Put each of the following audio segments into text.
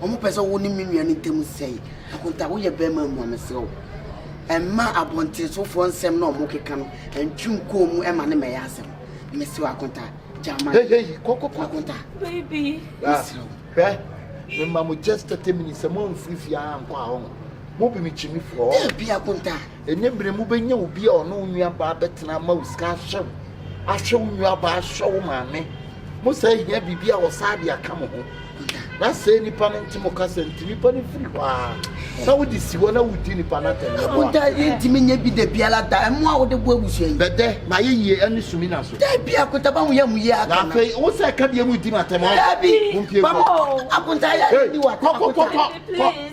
Ɔmo pɛ sɛ wo ne me nua no ntam sɛe. Akonta, woyɛ bɛɛma mmua me serɛ wo. Ɛmma abɔntensofoɔ nsɛm na ɔmo keka no ntwe nkɔɔ mu ɛma ne mɛyɛ asɛm. Me serɛ wo Akonta, gyaa ma. Hei hei, kɔ kɔ kɔ. Akonta. Baby. Me serɛ wo. Hwɛ, me ma mo just 30 minutes, sɛ mo anfiri fie a ankɔ a, ɔho, mo bi me kyi me firi hɔ. Dabi Akonta. Nnɛ bere mu wobɛnya obi a ɔne wo nuabaa bɛtena ama wo sika ahwɛ wo, ahwɛ wo nuabaa, ahwɛ wo maame. Mo saa hia biribi a wɔsaa de aka mo ho. Na sɛɛ nipa no nte mo kasa nti, nipa no firi hɔ ara. Na wode si hɔ na wodi nipa no atɛm. Ɛna mo da yi ntumi nyɛ bi da biara da. Ɛmo a wode boa abusua yi. Bɛdɛ, mayɛ yie ɛne sumina so. Dabi, akonta ba ho yɛ mo yie aka na. Na afei, wo sɛ ɛka bie mu di m'atɛm ɔn. Dabi, ba mo akonta yɛ ade di w'atɛm. Kɔ, kɔ, kɔ, kɔ, kɔ.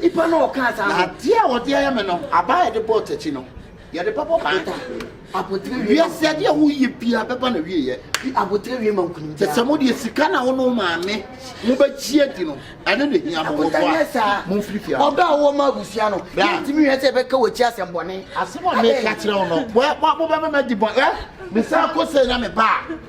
Nipa na ɔkaa saa ho. Na adeɛ a wɔde ayɛ me no, abaa a yɛde bɔɔ takyi no, yɛde bɛbɔ baa. Ota, abotire wie. Wiase adeɛ a woyɛ biara bɛba na wieɛ. Fi abotire wie ma nkunim biara. Te sɛ mo deɛ sika na wo ne wo maame mo bɛgye adi no, ɛno na ɛhia mo. Ota nyɛ saa. Momfiri fie ha. Ɔdɔ a wowɔ ma abusua no, yɛntumi nhwɛ sɛ ɛbɛka w'akyi asɛmmɔne. Asɛm a meka kyerɛ wo no, mobɛma madi bɔne. Mesan kɔ sei na meba a.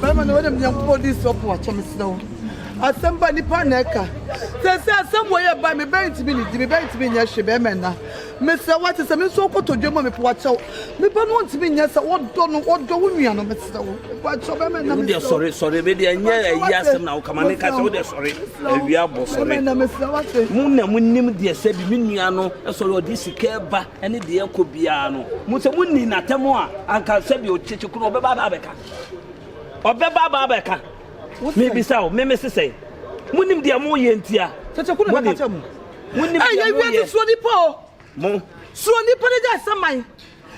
bɛrima no wɔnam nyankopɔn di sɔ po akyɛ mesrɛ wo asɛm ba nipa na ɛka sɛ sɛ asɛm wɔ yɛ ba me bɛn ntumi ne di me bɛn ntumi nyɛ hwe bɛrima na mesrɛ wo ate sɛ me nso wokɔtɔ dwa mu a mepo akyɛw nipa no ntumi nyɛ sɛ wɔdɔ no wɔdɔ wo nua no mesrɛ wo po akyɛw bɛrima na mesrɛ sɔre sɔre me deɛ nyɛ ayi asɛm na wokama ne ka sɛ wode sɔre awia bɔ sɔre mu na monim deɛ sɛ bi me nua no sɔre ɔde sika ba ɛne deɛ ɛkɔ biara no mu sɛ monni n'atɛm a anka sɛbi ɔkyekye koro ɔbɛba aba abɛka ɔbɛba aba abɛka mebisa wo meme se sɛ monim deɛ moyɛ ntia monim deɛ moyɛ suro nipa o mo suro nipa no gya sɛ man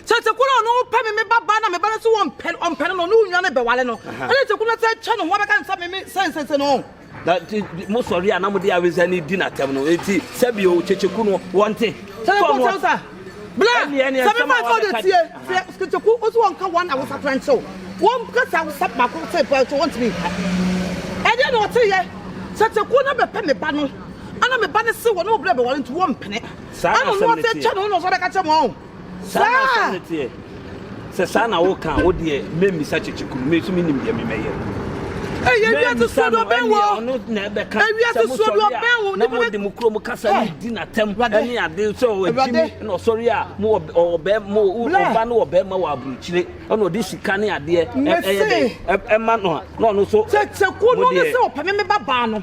kyɛkyɛkoro a ɔno pɛ me me ba ba na me ba no so wɔmpɛ ɔmpɛ no no ne wo nwa no bɛwale no ɛne kyɛkoro no sɛ kyɛ no ho abɛka nsɛ me me sɛnsɛnsɛ no Na mo sɔre a na mo de awesa ni di n'atɛm no eti sɛbi o kyekyeku no wɔn te. Sɛ bɛ bɔ sa bla sɛ bɛ bɔ kɔ de tie sɛ kyekyeku o so wɔn ka wɔn awesa tɛrɛ nkyɛw wɔn kasa awesa baako sɛ pɛ nkyɛw wɔn ti mi nka ɛdeɛ na ɔte yɛ sɛ kyeku na bɛ pɛ mi ba no ana mi ba no se wɔn na mo bla bɛ wɔre nti wɔn mpene ana ɔno ɔte kyɛ no ɔno ɔsɔ bɛ ka kyɛ mo ɔn. Saa na asɛm no teɛ. Sɛ saa na woka a, wo deɛ memmisa kyekye kunu, me nso mennim deɛ memɛyɛ. Memmisa no, ɛneɛ ɔno na ɛbɛka sɛ mosɔre a na mode mo kurom kasa no di n'atam ne ade sɛ ɔagyi me na ɔsɔre a ɔba no wɔ bɛrima wɔ aburokyire ɛna ɔde sika ne adeɛ ɛyɛ dɛ ɛma no a na ɔno nso modeɛ.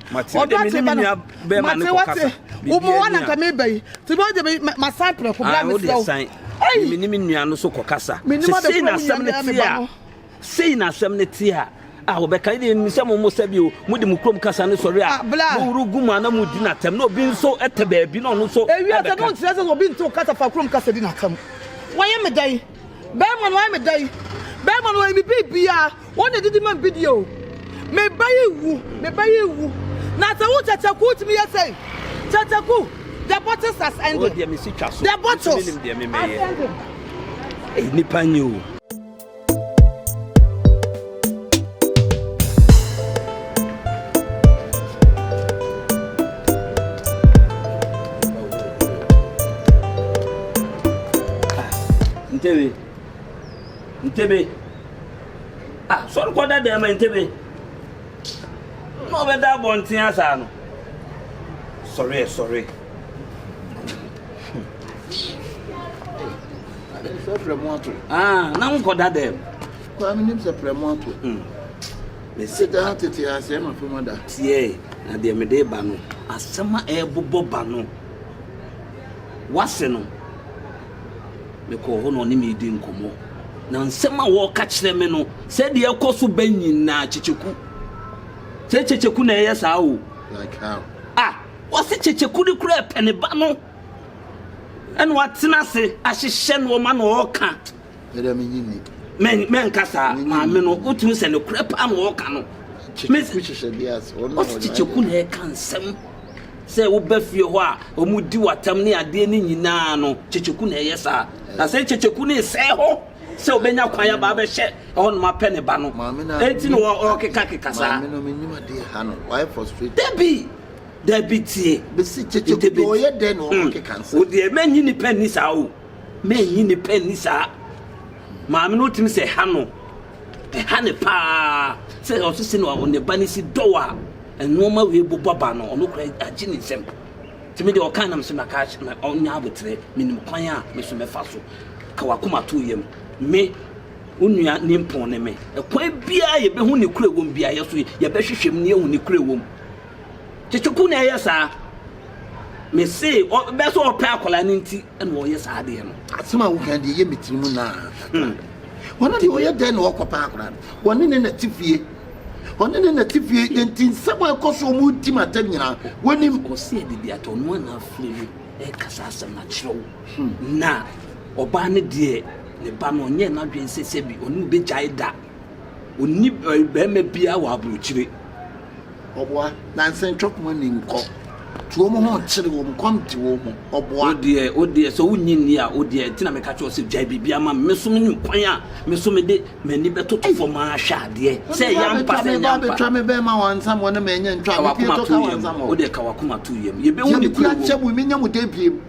ɔdɔ ate ba no mate wate womu wa nanka meba yi nti bɛ wode masan prɛko bra mesrɛ wo mene me nua no so kɔkasa sesei na asɛm no te a sei na asɛm no te a a wɔbɛka ne nim sɛ momo sɛ bio mode mo kurom kasa no sɔre a moworo gu mu ana mudi natɛm na obi nso ɛtɛ baabi na ɔno nso ɛbɛka ɛwia sɛ no nkyerɛ sɛ obi nte wo kasa fa kurom kasa di natɛm wɔyɛ me dɛn Bɛrima no wayɛ me dɛn? Bɛrima no wayɛ me biribiara. Wɔn na edidi ma me bidie o. Me ba yi wu, me ba yi wu. Na sɛ wo kyɛkyɛku wotumi yɛ sɛn? Kyɛkyɛku, the bottles has ended. Wo deɛ me si twa so. The bottles has ended. Ɛyɛ nipa nye o. Ntebe. Ntebe. Ah, sɔre kɔ da dɛm ntebe. Na ɔbɛda abɔnten asaa no. Sɔre ɛ sɔre. Ah, na nkɔ da dɛm. Koraa menim sɛ prɛmo ato. Me se daa tete asɛe m'afa mu ada. Tiɛ na deɛ mede reba no. Asɛm a ɛrebobɔ ba no. W'ase no, mekɔɔ hɔ na ɔne me redi nkɔmmɔ. Na nsɛm a ɔreka kyerɛ me no. Sɛ deɛ ɛkɔ so bɛ nyinaa kyekyeku. Sɛ kyekyeku na ɛyɛ saa o. Like how? Ah, wɔse kyekyeku de koraa ɛpɛ ne ba no. Ɛna watena ase ahyehyɛ nneɛma na ɔreka. Dada menye nni. Mɛ mɛnka saa. Maame no wotumi sɛ nokorɛ paa na ɔreka no. Kyekyeku hyehyɛ bi ase. Ɔsi kyekyeku na ɛka nsɛm. Sɛ woba fie hɔ a wɔn di watam ne adeɛ ne nyinaa no kyekyeku na ɛyɛ saa. Na sɛ kyekyeku ne sɛɛ hɔ sɛ ɔbɛnya kwan aba abɛhyɛ ɛhɔ nom apɛ ne ba no. Eti na ɔkeka keka saa. Maame no menim adeɛ ha no. Wayɛ frustrate. Dabi dabi tie. Besi kyekyeku deɛ ɔyɛ dɛ na ɔkeka nsɛm. Wodeɛ mɛnyi nipa nni saa o. Mannyi ne pɛ anni saa. Maame no tumi sɛ ɛha no, ɛha ne paa sɛ ɔso si na ne ba no si dɔw a nnoɔma wei bobɔ ba no, ɔno kora agye ne nsam. Nti me deɛ ɔka na me so na ka na ɔnya aboterɛ, menim kwan a me so mɛfa so. Ka wakoma to yam. Me, wo nua nimpɔn ne me. Ɛkwan biara yɛbɛhu ne kura wɔm biara yɛso yɛbɛhwehwɛ mu na yɛahu ne kura wɔm. Kyekyeku na ɛyɛ saa. Me se ɔbɛ sɛ ɔpɛ akwadaa no nti. na ɔyɛ saa adeɛ no. Asɛm a woka deɛ ɛyɛ me tiri mu naa kakra. Hmm. Ɔno deɛ ɔyɛ dɛn na ɔkɔ paa koraa no? Ɔne ne na te fie. Ɔne ne na te fie nti nsɛm a ɛkɔ so ɔmo di ma tɛm nyinaa wɔnim. Ɔsi ɛde bi atɔ ɔno ana afiri no ɛkasa asɛm na kyerɛw. Hmm. Na ɔbaa ne deɛ ne ba no ɔnyɛ n'adwene sɛ sɛbi ɔne obɛgyae da. Ɔni bɛrima biara wɔ aburokyire. Ɔboa. Nanse ntwe koma nni nkɔ. Tu wɔn ho kyere wɔn, kɔm de wɔn mu. Ɔboa. Wo deɛ, wo deɛ, sɛ wonnye nni a, wo deɛ, ɛnti na meka kyerɛ wo sɛ gyae biribiara ma me. Me nso menim kwan a me nso mede m'ani bɛtoto fam ahwɛ adeɛ, sɛ ɛyɛ ampa, sɛ ɛnyɛ ampa. Wo de abɛtwa me bɛn ma wɔansam wɔne me ɛnyɛ ntwa, me pie to ka wɔansam wɔn. Wo deɛ, ka w'akoma to yam. Yɛbɛhu ne kuro wom. Deɛ mete akyɛ mo yi, mennya mo da biem.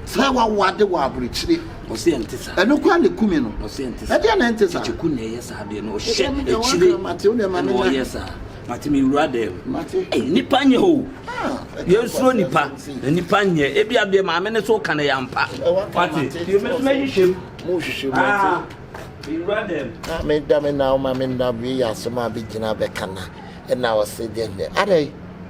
Sɛ wɔawo ade wɔ aburokyire, ɛno koraa na ɛku me no. Ɛdeɛn na ɛnte saa? mate me wura dɛm nipa nyɛ o yɛnsuro nipa na nipa nyɛ ebi adeɛ maame ne so ka no yɛampa mate yɛmɛsoma hyehyɛm mohyehyɛ mu ate meda me na woma me nna wei yɛ asɛm a bɛgyina bɛka na ɛna ɔse deɛ adɛn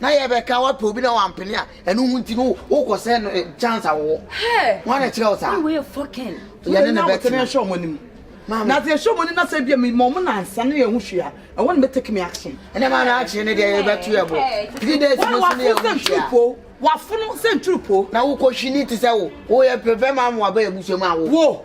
Na yɛ bɛ ka wapɛ obi na wampene a ɛno ho nti no wokɔ sɛ no eh, chance a wɔwɔ wọn na kyerɛ wo saa yɛne ne bɛtena ɛhyɛ ɔmo anim na sɛ ɛhyɛ ɔmo anim na sɛ bia mema ɔmo nansa ne yɛ ho hwee a ɛwɔ ne bɛtake me action ɛnɛ ma na akyerɛ ne deɛ yɛbɛto yɛ bo three days no so ne yɛ ho hwee a wafono sɛ nturu po na wokɔ hwini te sɛ wo woyɛ pɛpɛ ma mo aba yɛ busua mu a wo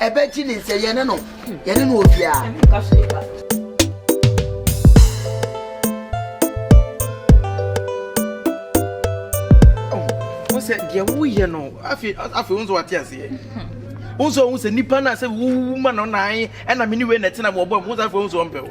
Ɛbɛgye ne nsɛ yɛne no yɛne no obiara. sɛ deɛ woyɛ no afei afei wo nso wate aseɛ wo nso ɔhu sɛ nnipa no a sɛ wowu ma no nae ɛna me ne wei na ɛtena bɔbɔ mu wo sɛ afei wo nso ɔmpɛ wo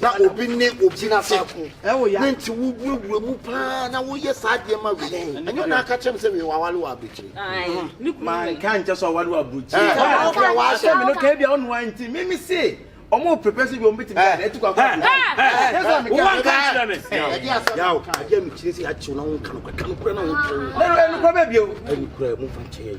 na obi ne obi nsa ko ne nti wowurawura mu paa na woyɛ saa adeɛ ma wei ɛnyɛ na aka kyerɛ m sɛ wei wawale wɔ aburokyire manka nkyɛ sɛ ɔwale wɔ aburokyire wahyɛ me no ka bia ɔno a nti me me se ɔmo prepare sɛ bi ɔmo bɛtumi ayɛ ɛtu kɔ akɔ wowanka nkyerɛ me ɛdeɛ mekyerɛ sɛ akyew na wonka no kora ka no kora na wonkyerɛ wo ɛnukora bɛbio ɛnukora mu fa nkyɛ yɛ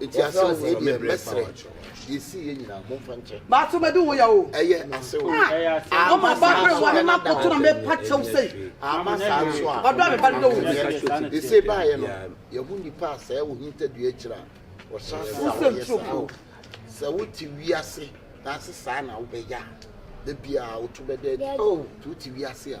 Eti asew wei deɛ mɛsrɛ deɛ esi yɛ nyinaa mo nfa nkyɛ. Baato mɛ di wo ya o. Ɛyɛ asew. Ama saa nso a na da ɔtɔ mi akyire. Ama saa nso a ɔdɔ mi ba do wo. Ese ba yɛ no yɛ ho nipa a sɛɛ wo hinta dua akyire a ɔhyɛ ase a ɔyɛ saa o. Sɛ wo te wiase na ase saa na wo bɛ yɛ a da biara wo to bɛ da adi. Ti wo te wiase a.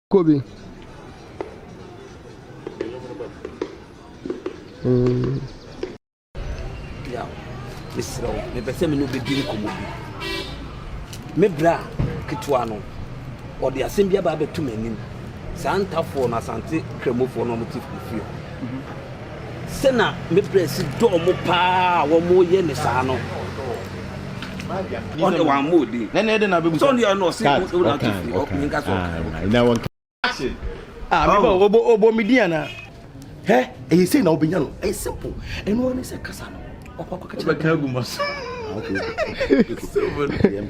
Kɔ bi. Bia, mesrɛ wo, mepɛ sɛ me ne wobɛdi nkɔmmɔ bi. Me bra ketewa no, ɔde asɛm bi aba abɛto m'anim. Saa ntafoɔ no, Asante Kramofoɔ no ɔmo te fie. sɛ na me bra si dɔ wɔn paa a wɔyɛ no saa no, ɔno deɛ wammɔ wo din. Sɛ ɔno yɛ no ɔse wo na to firi ɔkùnrin ka sɛ ɔka. Ah, me ba obo obo me din ana? Hɛ, ɛyɛ sei na wobɛnya no. Ɛyɛ simple. Ɛno ara ne sɛ kasa no. Wakɔ akɔka kyerɛ. Wobɛka agu ma so. Ah, okay.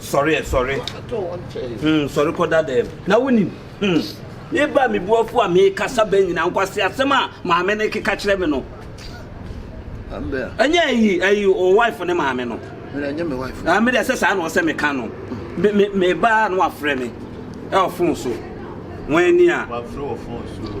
Sɔre ɛ, sɔre. Hmm, sɔre kɔ da dɛm. Na wonim, hmm, me ba me buafo a mekasa bɛ nyina nkwase asɛm a maame no keka kyerɛ me no. Ɛnyɛ ayi, ayi, o wife ne maame no. Ɛnyɛ me wife. Ah, me deɛ sɛ saa na ɔsɛ meka no. Me, me, me ba no afrɛ me. Ɛ ɔfon so. Wɔn ani a. Wɔafrɛ wɔ fon so.